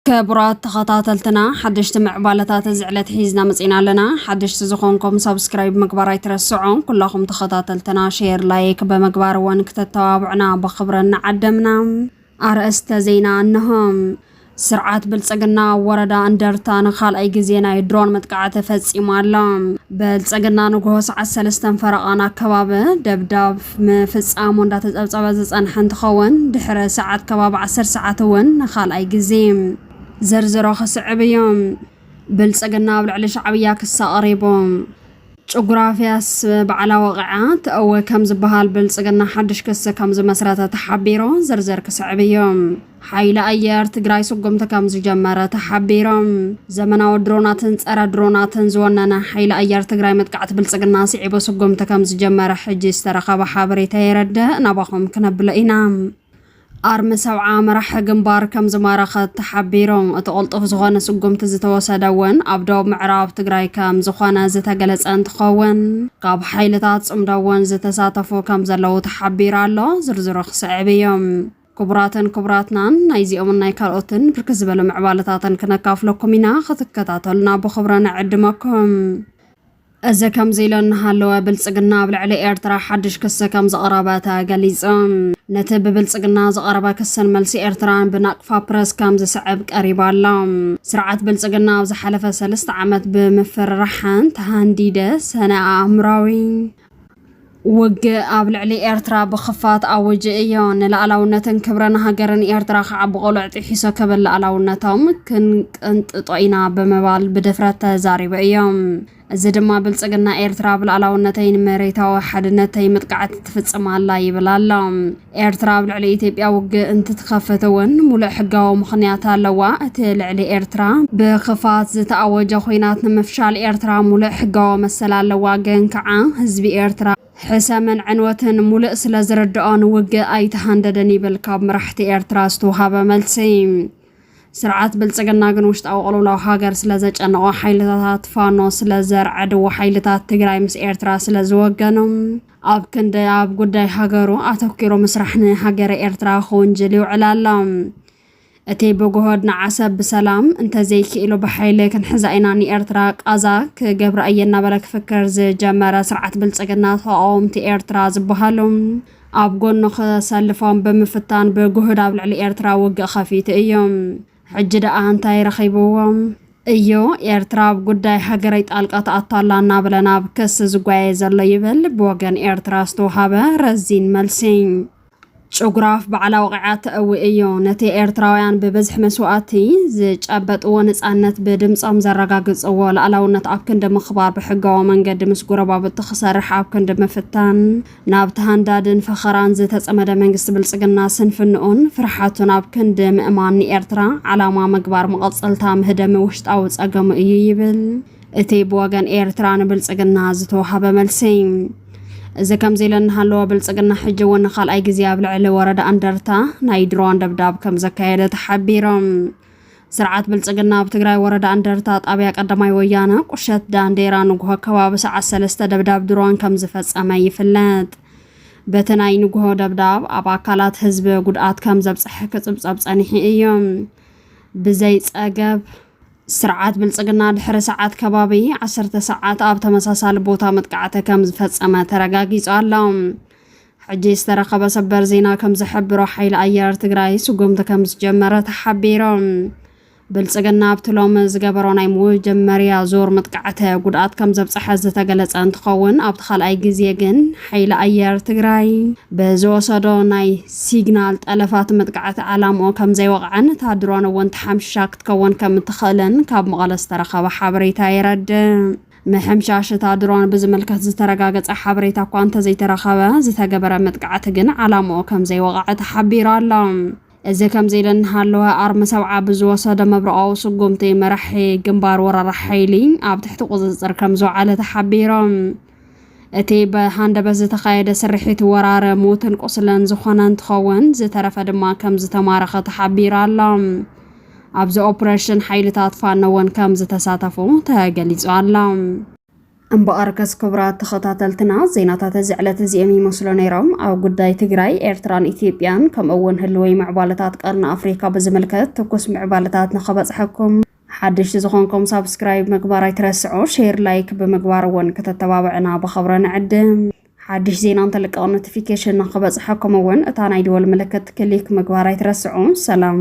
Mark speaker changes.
Speaker 1: ክቡራት ተኸታተልትና ሓደሽቲ ምዕባለታት እዚ ዕለት ሒዝና መፂና ኣለና ሓደሽቲ ዝኾንኩም ሰብስክራይብ ምግባር ኣይትረስዑ ኩላኹም ተኸታተልትና ሼር ላይክ ብምግባር እውን ክተተባብዑና ብኽብሪ እናዓደምና ኣርእስተ ዜና እንሆ! ስርዓት ብልፅግና ወረዳ እንደርታ ንካልኣይ ግዜ ናይ ድሮን መጥቃዕቲ ፈፂማ ኣላ። ብልፅግና ንጉሆ ሰዓት ሰለስተን ፈረቓን ኣከባቢ ደብዳብ ምፍፃሙ እንዳተፀብፀበ ዝፀንሐ እንትኸውን ድሕሪ ሰዓት ከባቢ ዓሰርተ ሰዓት እውን ንካልኣይ ግዜ ዝርዝሮ ክስዕብ እዩ። ብልፅግና ኣብ ልዕሊ ሻዕብያ ክሳ ቐሪቡ። ጭጉራፍያስ ባዕላ ወቒዓ ትእወ ከም ዝበሃል ብልፅግና ሓድሽ ክሲ ከም ዝመስረተ ተሓቢሩ። ዝርዝር ክስዕብ እዩ። ሓይሊ ኣየር ትግራይ ስጉምቲ ከም ዝጀመረ ተሓቢሩ። ዘመናዊ ድሮናትን ፀረ ድሮናትን ዝወነነ ሓይሊ ኣየር ትግራይ መጥቃዕቲ ብልፅግና ስዒቡ ስጉምቲ ከም ዝጀመረ ሕጂ ዝተረኸበ ሓበሬታ የረድእ። ናባኹም ክነብሎ ኢና። ኣርሚ ሰብዓ መራሒ ግንባር ከምዝማረኸት ተሓቢሩ። እቲ ቅልጡፍ ዝኾነ ስጉምቲ ዝተወሰደ እውን ኣብ ዶብ ምዕራብ ትግራይ ከምዝኾነ ዝተገለፀ እንትኸውን ካብ ሓይልታት ፅምዶ እውን ዝተሳተፉ ከምዘለዉ ተሓቢሩ ኣሎ። ዝርዝሩ ክስዕብ እዩ። ክቡራትን ክቡራትናን ናይዚኦምን ናይ ካልኦትን ብርክት ዝበለ ምዕባለታትን ክነካፍለኩም ኢና። ክትከታተሉና ብኽብረ ንዕድመኩም። እዚ ከምዚ ኢሉ እናሃለወ ብልፅግና ኣብ ልዕሊ ኤርትራ ሓድሽ ክሲ ከምዘቕረበ ተገሊፁ። ነቲ ብብልፅግና ዝቐረበ ክስን መልሲ ኤርትራን ብናቅፋ ፕረስ ከምዝስዕብ ቀሪቡ ኣሎ። ስርዓት ብልፅግና ኣብ ዝሓለፈ ሰልስተ ዓመት ብምፍርራሓን ተሃንዲደ ሰነ ኣእምራዊ፣ ውግእ ኣብ ልዕሊ ኤርትራ ብኽፋት ኣወጀ እዮ። ንላእላውነትን ክብረን ሃገርን ኤርትራ ከዓ ብቆሎዕ ጢሒሶ ክብል ላእላውነቶም ክንቅንጥጦ ኢና ብምባል ብድፍረት ተዛሪበ እዮ። እዚ ድማ ብልጽግና ኤርትራ ብላእላውነተይን መሬታዊ ሓድነተይ ምጥቃዕት ትፍጽም ኣላ ይብል ኣሎ። ኤርትራ ኣብ ልዕሊ ኢትዮጵያ ውግእ እንትትኸፍት እውን ሙሉእ ሕጋዊ ምኽንያት ኣለዋ። እቲ ልዕሊ ኤርትራ ብክፋት ዝተኣወጀ ኹናት ንምፍሻል ኤርትራ ሙሉእ ሕጋዊ መሰል ኣለዋ። ግን ከዓ ህዝቢ ኤርትራ ሕሰምን ዕንወትን ሙሉእ ስለዝርደኦ ንውግእ ኣይተሃንደደን ይብል ካብ መራሕቲ ኤርትራ ዝተውሃበ መልሲ። ስርዓት ብልፅግና ግን ውሽጣዊ ቅልውላው ሃገር ስለዘጨነቖ ሓይልታታት ፋኖ ስለዘርዐድዎ ሓይልታት ትግራይ ምስ ኤርትራ ስለዝወገኑ ኣብ ክንዲ ኣብ ጉዳይ ሃገሩ ኣተኪሩ ምስራሕ ንሃገረ ኤርትራ ክውንጅል ይውዕል ኣሎ። እቲ ብጉሆድ ንዓሰብ ብሰላም እንተዘይክኢሉ ብሓይሊ ክንሕዛ ኢና ንኤርትራ ቃዛ ክገብራ እየ እናበለ ክፍክር ዝጀመረ ስርዓት ብልጽግና ተቓወምቲ ኤርትራ ዝበሃሉ ኣብ ጎኑ ክሰልፎም ብምፍታን ብጉህድ ኣብ ልዕሊ ኤርትራ ውግእ ከፊቱ እዩ። ሕጂ ደኣ እንታይ ረኺብዎም እዩ ኤርትራ ኣብ ጉዳይ ሃገረይ ጣልቃ ትኣቱ ኣላ እናበለ ናብ ክሲ ዝጓየ ዘሎ ይብል ብወገን ኤርትራ ዝተውሃበ ረዚን መልሲ። ጭጉራፍ ባዕላ ወቒዓ ተእዊ እዩ። ነቲ ኤርትራውያን ብብዝሒ መስዋእቲ ዝጨበጥዎ ንጻነት ብድምጾም ዘረጋግጽዎ ላእላውነት ኣብ ክንዲ ምኽባር ብሕጋዊ መንገዲ ምስ ጎረባብቱ ክሰርሕ ኣብ ክንዲ ምፍታን ናብቲ ሃንዳድን ፈኸራን ዝተጸመደ መንግስቲ ብልጽግና ስንፍንኡን ፍርሓቱን ኣብ ክንዲ ምእማን ንኤርትራ ዓላማ ምግባር መቐጸልታ ምህደሚ ውሽጣዊ ጸገሙ እዩ ይብል እቲ ብወገን ኤርትራ ንብልጽግና ዝተዋሃበ መልሲ። እዚ ከምዚ ኢለ እናሃለወ ብልጽግና ሕጂ እውን ንካልኣይ ግዜ ኣብ ልዕሊ ወረዳ እንደርታ ናይ ድሮን ደብዳብ ከም ዘካየደ ተሓቢሮም። ስርዓት ብልፅግና ኣብ ትግራይ ወረዳ እንደርታ ጣብያ ቀዳማይ ወያነ ቁሸት ዳንዴራ ንጉሆ ከባቢ ሰዓት ሰለስተ ደብዳብ ድሮን ከም ዝፈፀመ ይፍለጥ። በቲ ናይ ንጉሆ ደብዳብ ኣብ ኣካላት ህዝቢ ጉድኣት ከም ዘብፀሐ ክፅብፀብ ፀኒሑ እዩ። ብዘይ ፀገብ ስርዓት ብልፅግና ድሕሪ ሰዓት ከባቢ ዓሰርተ ሰዓት ኣብ ተመሳሳሊ ቦታ መጥቃዕቲ ከም ዝፈፀመ ተረጋጊፁ ኣሎ። ሕጂ ዝተረኸበ ሰበር ዜና ከምዝሕብሮ ሓይሊ ኣየር ትግራይ ስጉምቲ ከምዝጀመረ ተሓቢሩ። ብልፅግና ኣብቲ ሎሚ ዝገበሮ ናይ መጀመርያ ዙር መጥቃዕተ ጉድኣት ከም ዘብፀሐ ዝተገለፀ እንትኸውን ኣብቲ ካልኣይ ግዜ ግን ሓይሊ ኣየር ትግራይ ብዝወሰዶ ናይ ሲግናል ጠለፋት መጥቃዕቲ ዓላምኡ ከም ዘይወቕዐን እታ ድሮን እውን ተሓምሽሻ ክትከውን ከም እትኽእልን ካብ መቐለ ዝተረኸበ ሓበሬታ የረድእ። ምሕምሻሽ'ታ ድሮን ብዝምልከት ዝተረጋገጸ ሓበሬታ እኳ እንተዘይተረኸበ፣ ዝተገበረ መጥቃዕቲ ግን ዓላምኡ ከምዘይወቐዐ ተሓቢሩ ኣሎ። እዚ ከምዚ ኢሉ እናሃለወ፣ ኣርሚ ሰብዓ ብዝወሰዶ መብረቓዊ ስጉምቲ፣ መራሒ ግንባር ወራር ሓይሊ ኣብ ትሕቲ ቁጽጽር ከምዝወዓለ ተሓቢሩ። እቲ ብሃንደበት ዝተኻየደ ስርሒት ወራር ሞትን ቁስለን ዝኾነ እንትኸውን ዝተረፈ ድማ ከም ዝተማረኸ ተሓቢሩ ኣሎ። ኣብዚ ኦፕሬሽን ሓይልታት ፋኖ እውን ከም ዝተሳተፉ ተገሊጹ ኣሎ። እምበኣርከስ ክቡራት ተኸታተልትና ዜናታት እዚ ዕለት እዚኦም ይመስሉ ነይሮም። ኣብ ጉዳይ ትግራይ፣ ኤርትራን ኢትዮጵያን ከምኡ እውን ህልወይ ምዕባለታት ቀርኒ ኣፍሪካ ብዝምልከት ትኩስ ምዕባለታት ንኸበጽሐኩም ሓደሽቲ ዝኾንኩም ሳብስክራይብ ምግባር ኣይትረስዑ፣ ሼር ላይክ ብምግባር እውን ክተተባብዕና ብኸብረ ንዕድም። ሓድሽ ዜና እንተልቀቕ ኖቲፊኬሽን ንክበፅሐኩም እውን እታ ናይ ደወል ምልክት ክሊክ ምግባር ኣይትረስዑ። ሰላም!